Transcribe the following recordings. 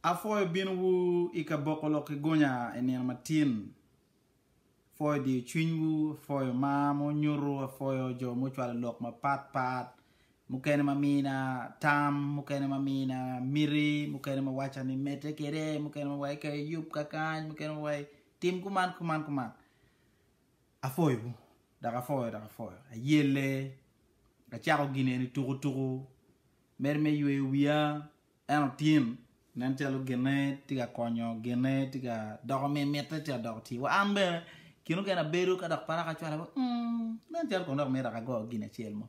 Apwoyo binowu i ka boko lok ki gunya i nino matin. Apwoyo diyo cwinywu, apwoyo mar ma wunyuto, apwoyo jo ma wucwalo lok mapat pat, mukene ma mina tam, mukene ma mina miti, mukene ma waca ni medde kwede, mukene ma waca ni yub ka kany, mukene ma waca ni tim kuman kuman kuman. Apwoyowu, dok apwoyo dok apwoyo. Ayelle, acako gin eni tuku tuku, Medo me yweyo wiya en otim nen calo ginne tye ka konyo, ginne tye ka doko mi mitte ci adoko ci. Wa an bene kin okene abedo ka dok para ka cwale wa umm nen calo kono dok mito ago gin acel mo.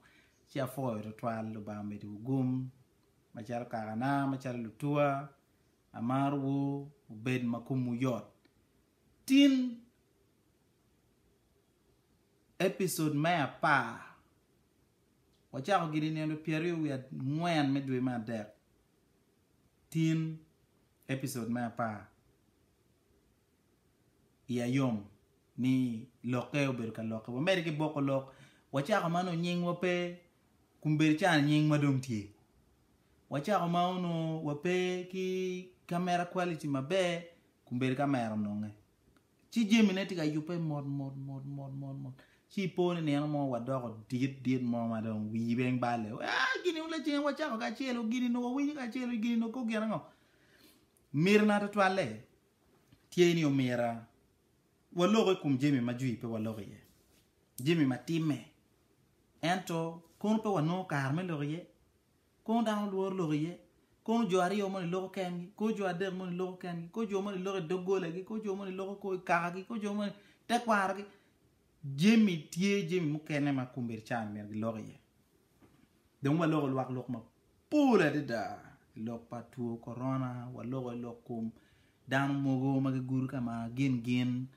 Ci apwoyo twatwal Lubanga omedi wu gum macalo kakana macalo lutuwa amaro wu wubed ma kom wu yot tin episode me apar. Wacako gin i nino pyeraryo wiye angwen me dwe me adek, tin episode me apar. Iya yom ni lokke obedo ka lokke. Wamede ki boko lok. Wacako ma nongo nyingwa pe kun bedo cani nyingwa dong tye. Wacako ma onongo wape ki camera quality maber kun bedo kamera ononge. Ci jamine tye ka yubbe mot mot mot mot mot mot. Ci i po ni nino mo wa doko dit dit mo ma dong wii bene balle. Aa gini wun lacen wa cako kacelu gini nongo wa winyo kacelu gini nongo kok gin ango? Miro na tutwalle tye ni omira wa loko i kum jami ma jwi pe wa loko iye. Jami ma timme. Ento kono pe wa nongo kare me loko iye. Kong dano lworo lok iye. Kong jo aryo moni loko kengi, kong jo adek moni loko kengi, kong jo moni loko i doggolagi, kong jo moni loko kong i kakagi, kong jo moni tekwarogi. Jami tye jami mukene ma kombeddi can myero gilok iye. Dong waloko lwak lok mapol adada i lok pa two korona, waloko i lok kom dano mogo ma gigudo ka ma gin gin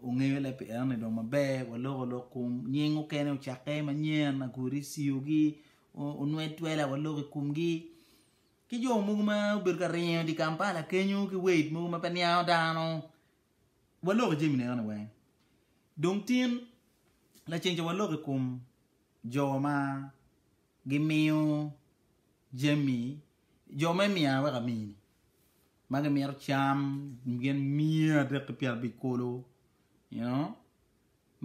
ongeyo le pi enoni dong maber, waloko lok kom nying mukene ocakke manyen, agure i CIO-gi, onwed twela wa lok i kumgi ki jo mogo ma obedo ka ringo idi Kampala kenyo ki wade mogo ma pe niango dano wa lok i jami ne ni weng dong tin laceng ca wa lok i kom jo ma gi miyo jami jo me miya wek amini ma gi mito cam gin miya adek ki pyera abic kolo you know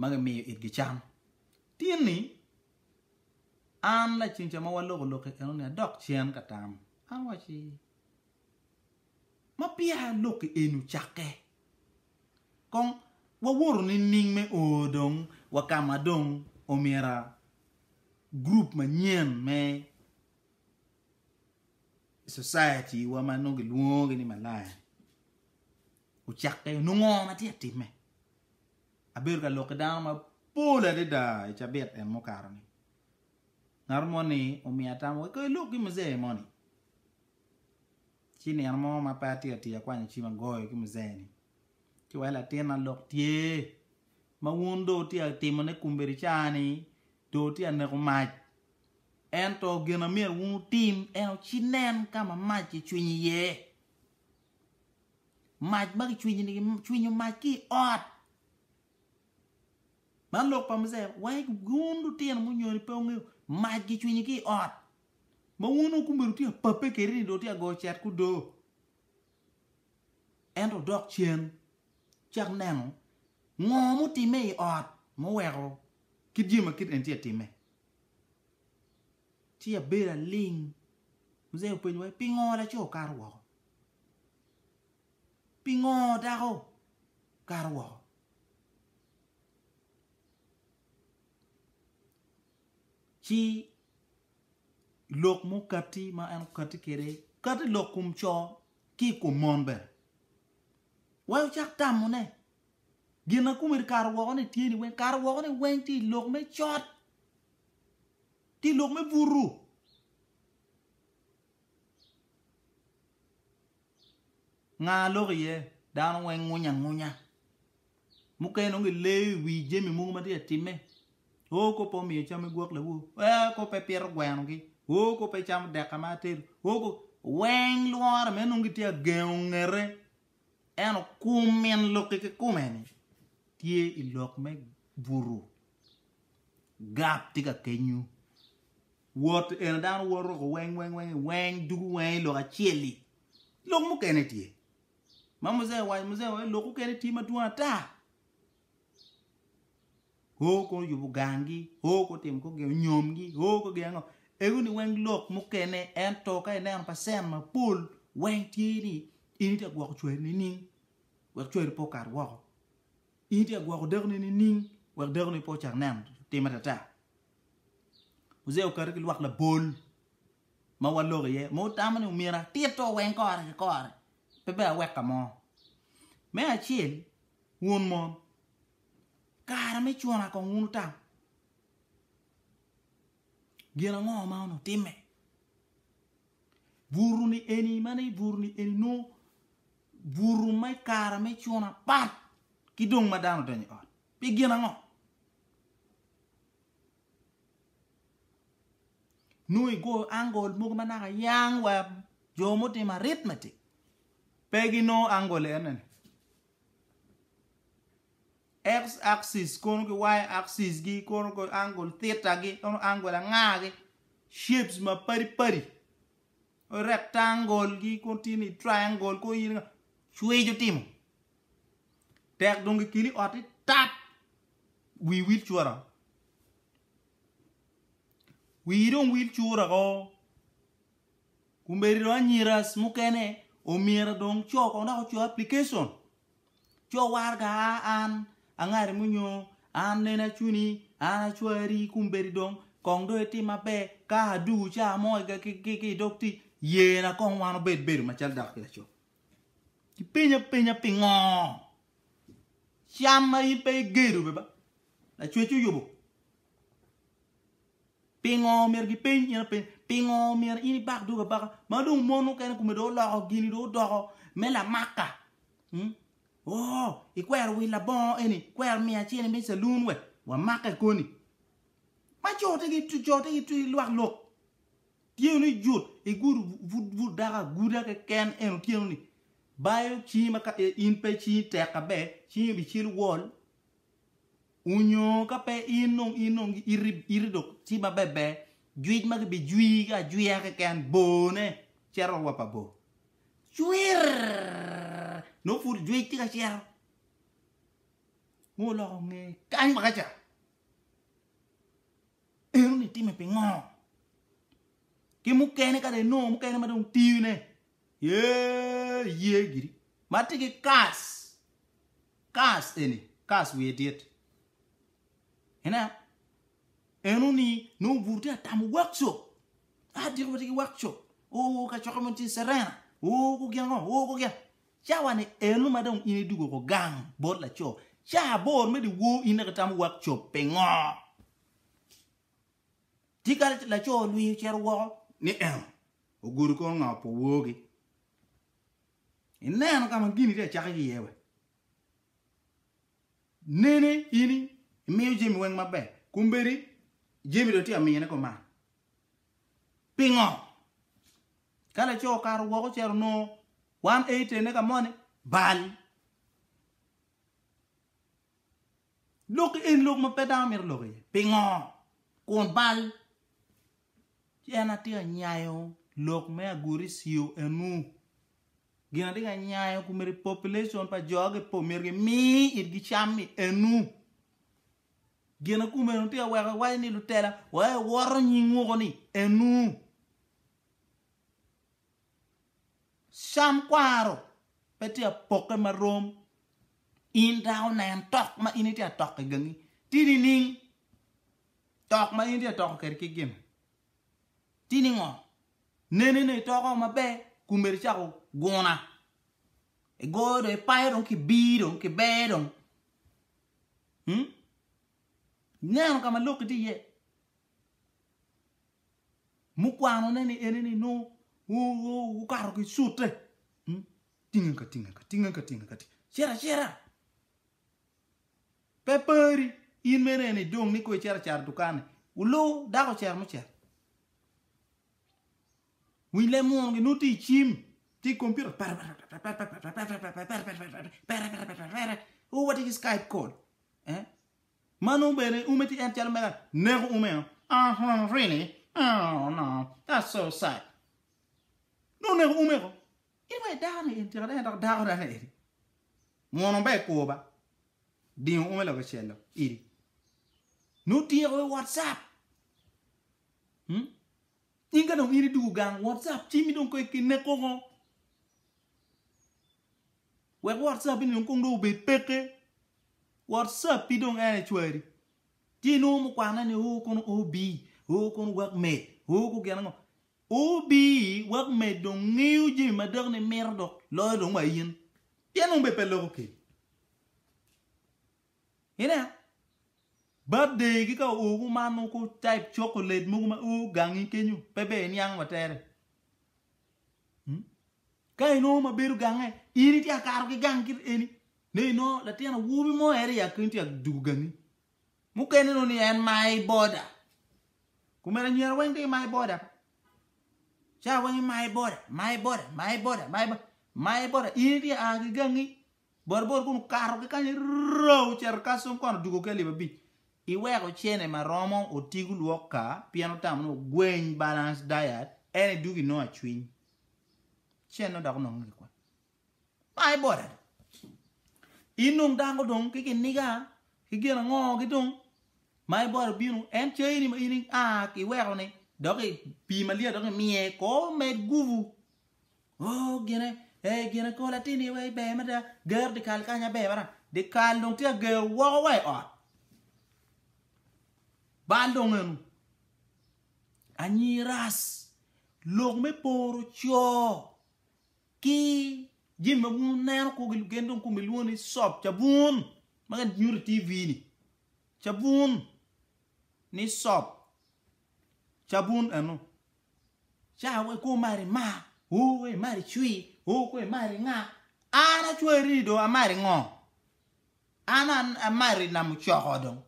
ma gi miyo it gi cam tin ni An lacen ca ma waloko lok-ki enoni adok cen ka tam. An awaci, Ma peya lok-ki eni ocakke, kong wawoto nining me o dong wa ka ma dong omyera gurup manyen me society-wa ma nongo gilwongogi ni Malaya-ni ocakke? Onongo ngo ma tye ka timme? Abedo ka lok ki dano mapol adada i cabit en mukato-ni. Ngat moni omiya atamo wek kong ilok ki muzee moni. Ci nino mo ma pe atye ka tii akwanyo cim agoyo ki muzee-ni ci wa latinna lok tye ma wun dong wutye ka timone kombeddi ca-ni dong wutye ka neko mac. Ento gin ma myero wun wutim en aye ci nen ka ma mac kicwinyo iye. Mac ma kicwinyo mac ki i ot. Man lok pa Mujaya wai wun lutino munyoni pe wungeyo mac kicwinyo ki i ot ma wun dong kumeno tye ka pape kedi ni dong tye ka goyo cet kudo. Ento dok cen cak neno ngo mutimme i ot muweko kit jami ma kit eni tye ka timme. Ci abedo aling Mujaya openyo wai pingo laco okato woko? Pingo dako okato woko? Ci lok mukati ma en okati kwede, kati lok kom co ki i kom mon bene. Wek wucak tamone, gin ma kome kikato woko-ni tye ni weng? Kato woko-ni weng tye i lok me cot ki i lok me butu. Nga lok iye? Dano weng ngunya angunya. Mukene nongo gileyo i wi jami mogo ma tye ka timme. Oo kop pe omiyo cam igwok lawo, oo kop pe pito gwenogi, oo kop pe icamo dek ka ma atedo, oo kop. Weng lworo me nongo gitye ka gengo ngete. Ento kum min lok-ki kikume-ni tye i lok me buto. Gap tye ka kenyu. Wot eno dano wot ruko weng weng weng i weng dugu weng i lok acel-li. Lok mukene tye. Ma Muzee owaco, Muzee owaco lok mukene tye madwong ata. O kono yubo ganggi, o kono timo kong gin, onyomgi, o kono gin ango. Egoni weng lok mukene ento ka ineno pacent mapol weng tye ni in itye ka gwoko cwari nining wek cwari pe okat woko. In itye ka gwoko dakoni nining wek dakoni pe ocak neno timme ata ata. Uziya okati ki lwak labol ma waloko iye ma otamo ni omyero atito weng kore ki kore, pe bene awek ka mo. Me acel, wun mon, kare me cuna kong wun wutamo gin ango ma onongo timme? Buruni eni ma ni buruni eni nongo buru me kare me cuna pat ki dong ma dano odonyo i ot. Pi gin ango? Nongo igoyo angol mogo ma naka yang wa jo mutimo arithmetic pe ginongo angol ene-ni. X axis kono ki Y axis gi kono goyo angol theta gi kono angol anga gi shapes ma padi padi. rectangle gi kong tye ni triangle kong iyini nga cwec otimo tek dong gikeli ot ni tat wi wil cura wi dong wil cura ko kumeri dong anyiras mukene omyero dong co kong dok oco application Co waraga a an angari mo nyo an nen acuni an acwari i kum bedi dong kong do itim maber ka adugu ca mo ki i dog tic yena kong wan obed bedo macalo dako ki laco ipenya penya pingo cam ma in pe igedo beba lacwec oyubo Pingo myero gipeny in apenya? Pingo myero in ibak dog abaka? Ma dong mon mukene kome dong oloko gini dong odoko me lamaka. Hmm? Oh, ikwero wil labongo eni, kwero miyo acene me salun we wamake koni. Ma cote gi cote gi twi lwak lok. Tye ni jut igud but daka guda keken en otyeno ni bayo cingi ma ka eh, in pe cingi tek kabe cingi bicel wol Onyo ka pe in dong in dong iti iti dok ti ma berber jwic ma gibi jwii ki ajwiya keken bone cito rwop pa bor cwirrrrr nongo pud jwic ti ka cito ma oloko nge kany waka ca eno ni itime pingo? Ki mukene ka dong inongo mukene ma dong tine eeh iye giri ma ti ki kas Kas eni, Kas wiye dit. Ineno? Eno ni, nongo bur tye ka tamo workshop. Ah, diko watye ki workshop. Oo, kacokke mo tye Serena. Oo, ku gin ango, oo, ku gin. Cawa-ni eno ma dong in idwogo oko gang bot laco, ca aboro me dyewor in dok itamo workshop. Pingo? Tika laco olwiny ocito woko? Ni eno, ogudo kor nga opo worgi. Ineno ka ma gin itye ka cakke ki iye we? Nene in imiyo Jemi weng maber, kombeddi Jemi dong itye ka miyone koman. Pingo? Ka laco okato woko ocito onongo wan ei tenne ka moni, bal. Lok eni lok ma pe dano mito lok iye. Pingo? Kun bal. Ci en aye onyayo lok me aguri cio enu. Gin atye ka nyayo kumiti population pa jo gi po myero gi mi itgi cam i enu. Gina kumenu tye ka weko iwaco ni lutela wa i woto nying woko ni enu. Cam kwaro pe tye ka poke ma rom in dako nen tok ma in itye ka tok igangi ti nining? Tok ma in tye ka toko kwede kit gin tye ni ngo? Nene ni itoko maber kun myero icako guna. Igoyo dong ipayo dong kibir dong kiber dong. Hmm? Ineno ka ma lok itye iye. Mukwanone ni ene ni nongo wukato ki cute. Hmm? Tinga ka tinga ka tinga ka tinga ka tinga. Cira cira. Pe pari in mene en ni dong ni kong icito acara idukan ni wuluu dako ocito mucito. Winy leb muno gi nongo tye i cim tye i computer oo watye ki skype call eh ma nongo bene ume tye en calo mega neko ume o oh really oh no that's so sad nongo neko ume ko. In wai dako ni in tika dong en dok dako dano eni muno ba i kwo ba dingo ume loke cello idi nu tyeko i whatsapp hmm? in ka dong in idugu gang whatsapp cimi dong koi kinne koko wek whatsapp ini dong kong dong obed peke whatsapp i dong en ecwari ci inongo mukwane ni o kono obi o kono wak med o ko gin ango Obii wek med dong ngeyo jami ma dako ni mito dok loyo dong wa in. Pien dong be pe loko kedi. Ineno? Birthday gi ka oo gu man gu type chocolate mogo ma oo gangi kenyo pe ber iniang wa tere. Hmm? Ka inongo ma bedo gange, in itye akato ki gang kit eni. Ne inongo latin awobi mo eri ya keny tye adugo gangi. Mukene nongo ni en my boda. Kumeno anyira weng tye ki my boda. Ca weng i my boda, my boda, my boda, my boda. My boda in itye a ki gangi bor bor kunu kato ki kany roo oceto Kasong kono odugo ki alip abic. Iweko cene ma romo oti gu lwok ka pien otamo ni ogweny balance diet en idwogo inongo acwiny. Cene dok onongo ki kwan. Ma aye bot adi? In dong dako dong ki kiniga ki gin ango ki dong ma aye bot obino en cayini ma in a ki iweko ni dok i pii malyet dok imiye kor med gubu oh gine eh gine kor latini wai ber mada ger dikal kanya ber mada dikal dong tye ager woko wa i ot bal dong enu anyi ras lok me poro coo Ki jami ma bwun neno kwo ki lugen dong kome lwongo ni sop ca bwun ma kan nyuto i TV ni ca bwun ni sop ca bwun eno ca we kwo mar i mar oo we i mar i cwi oo kwe i mar i nga an acweri ni dong amar i ngo an amar i namo coko dong.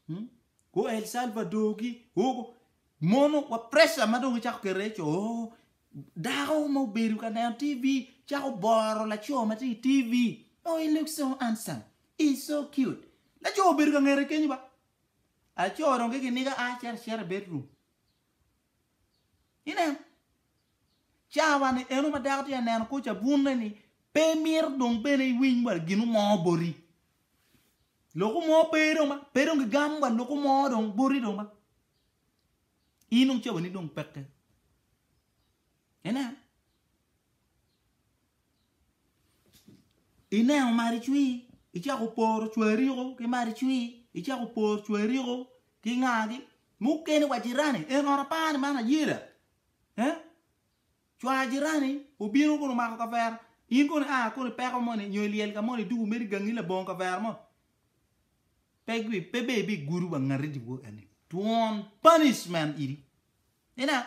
Hmm? Go El Salvador gi go mono wa pressure ma dong icako kere ico oh, dako ma obedo ka neno TV cako boro laco ma tye i TV. Oh, he looks so handsome. He's so cute. Laco obedo ka ngete kenyo ba. Aco dong ki kiniga a cito acita i bedroom. Inen. Cawa ni eno ma dako tye ka neno kor cabunne ni pe mito dong bene iwiny wa gin mo boti. Loko mo pe dong ma, pe dong gigam wa loko mo dong boti dong ma. In dong cawani dong peke. Inen. Ineno maricwi, icako poro cwariko ki maricwi, icako poro cwariko ki ngagi. Mukene wa jirani, en ot apani man ayeda. Eh? Cwa ajirani obino kun omako kavera, in kono ia kono i peko moni nyo i lyel ka moni idwogo mere igangi labongo kavera mo. Pe gwi, pe be bigudo wa ngati dibwo eni. Twon punishment iri. Ina,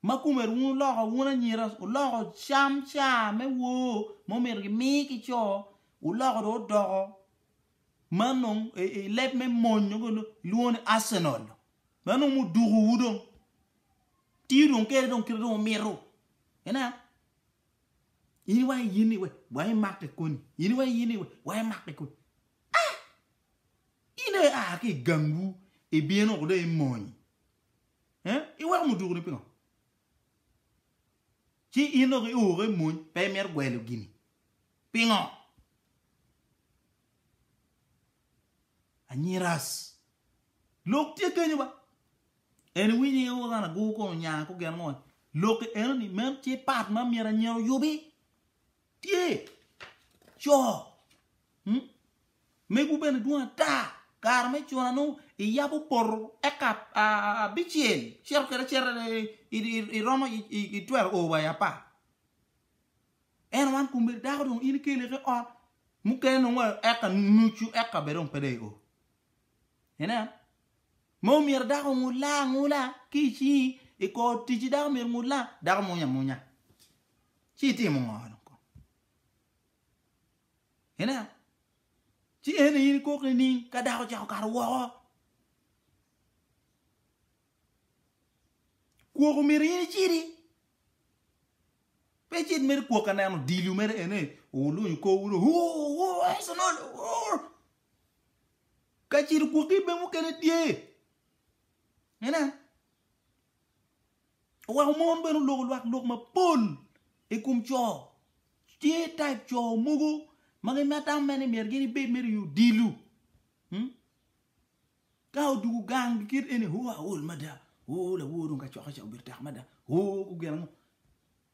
ma kumer wun oloko wun anyira, oloko cam caa me woo ma omyero gimi ki co, oloko do odoko ma nongo i leb me mony nongo gilwongo ni Arsenal dong ma nongo mudukuwu dong tiyo dong kede dong kit ma dong wumito ina in wa i in iwe wa imakke koni in wa i in iwe wa imakke koni ah! in dong ia ki i gangwu ibino woko dong i mony eh? iweko mudukuni pingo ci in dok i oo woko i mony pe imito gwelo gini. Pingo? Anyiras. Lok tye genyo ba. En iwinyo i oo kan agur kono nya ko gen ngo. Lok i eno ni meno tye part ma myero anyira oyubi. Tye co megu bene dwong ata kare me cuna nongo iyabo poto eka abicel cito kwede acita iromo itwero o wa i apar ento wan komedi dako dong in ikele ki ot mukene nongo eka nucu eka bene dong pe dong i o ineno. Ma omyero dako ongut laa angula ki i cingi i kor ticci dako omyero ongut laa, dako munya amunya ci itimo ngo dong kong? Ineno? Ci en aye in ikok nining ka dako ocako kato woko? Kwok omyero in icidi pe icit mere kwok ka neno odilu mere ene olunyo kor wunu ur ur ur Arsenal ur Ka cito gwoki ibe mukene tye. Ene. Oweko mon bene oloko lwak lok mapol i kom co. Tye type co mogo ma gimata me ni myero gin ibed mere i odilo. Hmm? Ka odugu gang gikit ene, oh aol mada. Oh lawor dong ka cokke ca obedo tek mada. Oh gugena ngo.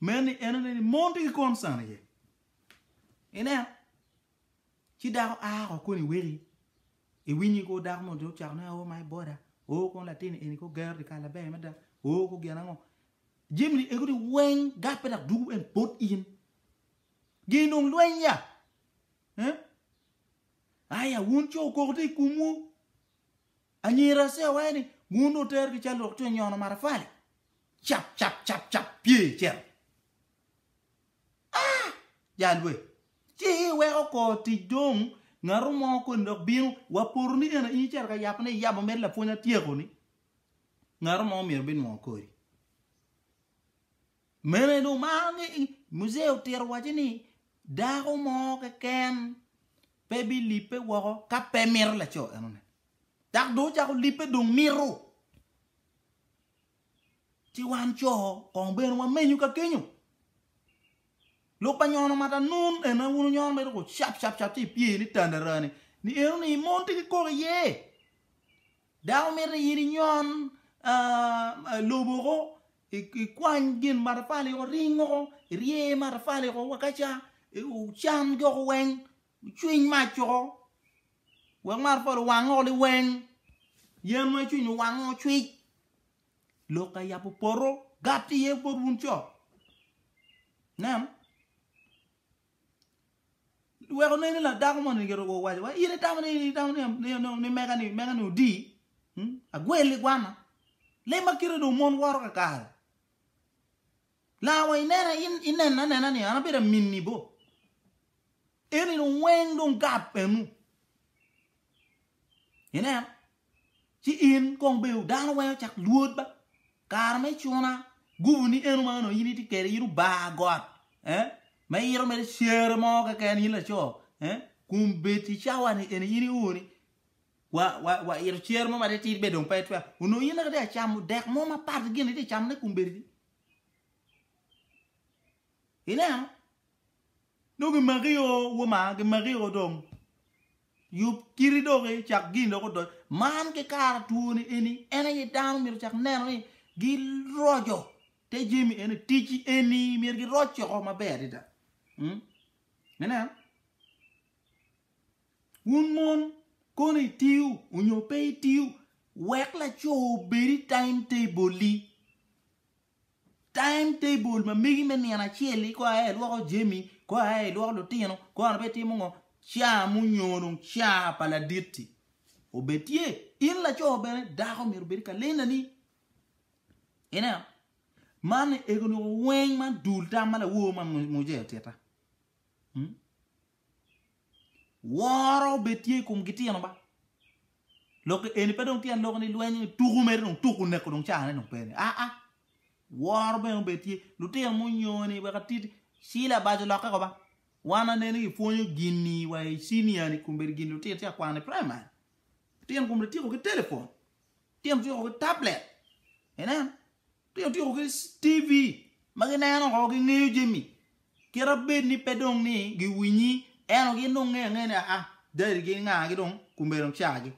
Meno ni en oneno ni mon tye ki concern iye. Ineno? Ci dako a ko koni weki iwinyi ko dako mo jo cako ne oh my border, oh kon latin eni ko gero di kala ber mada, oh ko gin ango. Jim ni ego ni weng gape dak dugu en bot in. Gin dong lweny ya. Eh? Aya wun co koko ti kumwu. Anyira ce awaye ni, Wun dong wuter ki cal lwak cwiny nyono matafali. Cap cap cap cap pye icel. Ah! Jal we. Ci iweko kor tic dong ngatu mo koni dok bino wa poto ni eno in icito ka yabo ne iyabo med lapwony atyeko ni ngatu mo myero binwongo kodi. Mene dong maro ni Muzee otito waco ni dako mo keken pe bilipe woko ka pe mito laco enone. Dok dong ocako lipe dong mito. Ci wan co kong bene wamenyo ka kenyo. Lok pa nyono mata nun en aye wunu nyono mere ko cap cap cap ci ipye ni tandarani ni enoni mon tye ki koko iye. Dako mito in inyon lobo woko, ikwany gin matafali woko, ring woko, irye iye matafali woko wa ka ca, wucan jo woko weng, wucwiny mac woko wek matafali owang woko liweng, yen ma icwinyo owang woko cwit. Lok ka yabo poto gatti iye bot wun co, ineno? Wek onen ni la dako moni giruko owaco wa in itamo ni in itamo ni mega ni mega ni odi agwel i gwana le ma kite do mon woro ka kare la wa inena in inena nena ni ana beda minni bo eni dong weng dong gap enu inen ci in kong bedo dano weng ocak lwod ba kare me cuna gubu ni eno ma onongo in itye kede in obar got eh ma iyito mere cere mo keken in laco eh kun bed i cawa ni eni in iur ni wa wa wa ito cere mo ma tye tit bene dong pe twero onongo in naka tye ka camo dek mo mapat ki gin itye ka camone kun bedi ineno nongo gimaki o woma gimaki o dong. Yub kiti dok icak gin dok odony. Man ki kara two ni eni en aye dano myero ocak neno ni gi roco te jami eni ticci eni myero gi roc coko maber adada. Inen wun mon kono itiyo onyo pe itiyo wek laco obedi time table-li. Time table ma megi me nino acel ni kor aye ilwoko jami, kor aye ilwoko lutino, kor aye itimo ngo, ca munyono ca pa laditti obed tye. In laco bene dako myero obed kalendani. Ineno? Man egoni weng man dul tam ma lawor ma Mojea otita. Woro obed tye i kom gitino ba. Lok eni pe dong tyen lok ni lweny tuku mere dong tuku neko dong caa ne dong pe ni aa woro bene obed tye lutino munyoni wek atiti Sheila bajo lokke ko ba wan aneno i pwonyo gini wa i senior ni kun bedo gini lutino tye akwano i primary lutino kun bedo tyeko ki telephone lutino tyeko ki tablet inen. Pien otyeko ki TV ma gineno oko, gingeyo jami. Kira bed ni pe dong ni giwinyi, ento gin dong ngeyo angea ni aa, dadigi ki ngagi dong kombeddi dong cagi.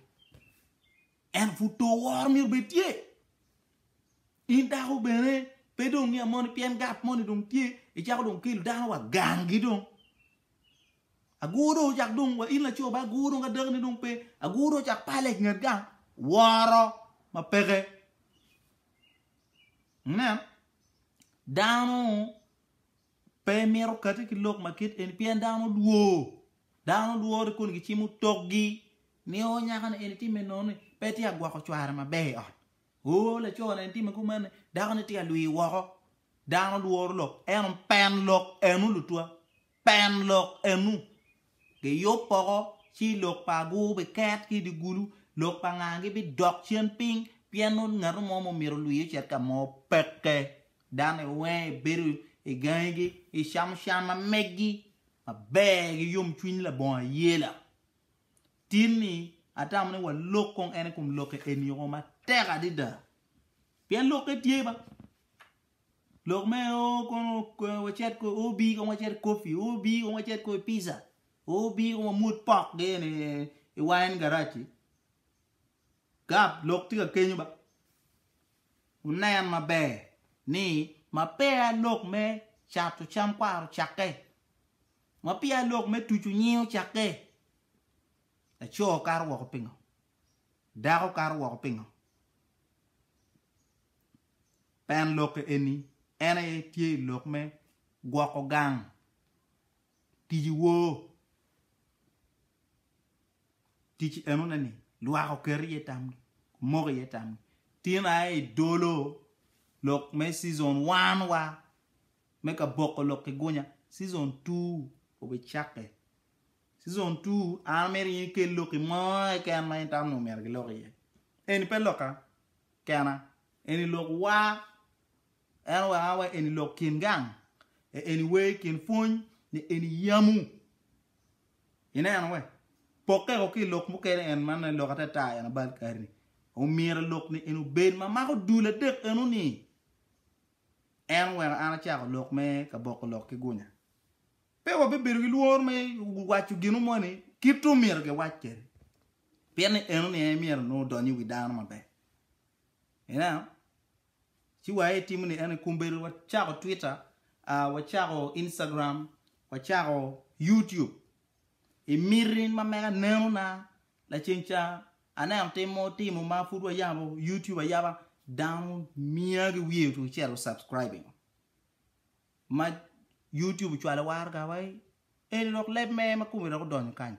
Ento pud to woro myero bed tye. In dako bene pe dong niang moni pien gap moni dong tye, icako dong kelo dano wa ganggi dong. Agur dong ocak dong wa in laco ba agur dong ka dakine dong pe, agur dong ocak pale i nget gang, woro ma peke. Wunen, dano pe mito kati ki lok ma kit eni pien dano dwor. Dano dwor ni koni gicimo tokgi ni o nyaka ni eni timme nono-ni pe tye ka gwoko cware maber i ot, oo laco ni eni timme kumanni dako ni tye ka lwir woko. Dano dworo lok ento pen lok eno lutwa. Pen lok enu, Giyub poko, ci lok pa agur biket ki i dye gulu, lok pa nga gibidok cen piny, pien nongo ngat mo ma omyero olwii ocit ka mo peke. Dano iwenge ibedo i gangigi, icamo can ma meggi maber ki yomcwiny labongo ayela. Tin ni, atamo ni walok kong en i kom lokke eni-o matek adada, pien lokke tye ba. Lok me o kono wacit ko o bi kono wacit kopi o bi kono wacit ko pizza o bi kono wamut pok gen i wine garage gap lok tye ka kenyo ba wunen maber ni ma peya lok me cato cam kwaro ocake ma peya lok me tucu nying ocake laco kato woko pingo dako kato woko pingo Pien lokke eni en aye tye i lok me gwoko gang tic wor, tic enone ni lwak oket iye tamgi, omoko iye tamgi. Tin aye i dolo lok me cizon one wa me ka boko lok ki gunya, cizon two obicakke. Cizon two an amito in ikel lokki mo keken ma in tamo ni omyero gilok iye. Eni pe lokka. Kena, eni lok wa, en oweka wa eni lok kin gang, e eni wer kin pwony ni eni yamu. Ineno we? Pokke ko ki lok mukene en man en lok atata en abal kari ni. Omyero lok ni eni obed ma mako dul adek eno ni. En oweka an acako lok me ka boko lok ki gunya. Pe wabibedo ki lworo me waco ginu mo ni kit omyero giwac kede. Pien ni eno ni en myero nongo odony i wi dano maber. Ineno? Ci wa itimo ni eno kombedo wacako Twitter, uh, wacako Instagram, wacako YouTube. Imiti ma mega neno na laceng ca aneno tim mo timo ma pud wayabo YouTube ayaba dano mia gi wiye otucel o subscribing. ma YouTube ocwalo waro gawayi eni dok leb me ma kome dok odonyo kany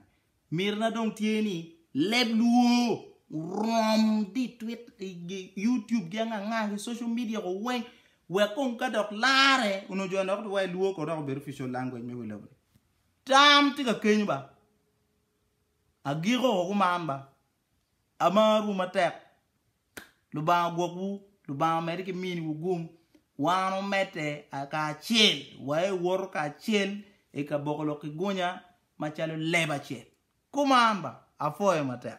miti na dong tye ni leb luo orom di twit i YouTube gi anga anga ki social media ko weng wek kong ka dok lare onongo jo dok duwaye luo ko dok obedo official language me wi lobo tam tye ka kenyo ba agiko ko kuman ba Amarwu matek. Lubanga ogwokwu. Lubanga omedde ki miniwu gum. Wan omedde kacel. Waewoto kacel i kaboko lok ki gunya macalo leba acel. Kuman ba. Apwoyo matek.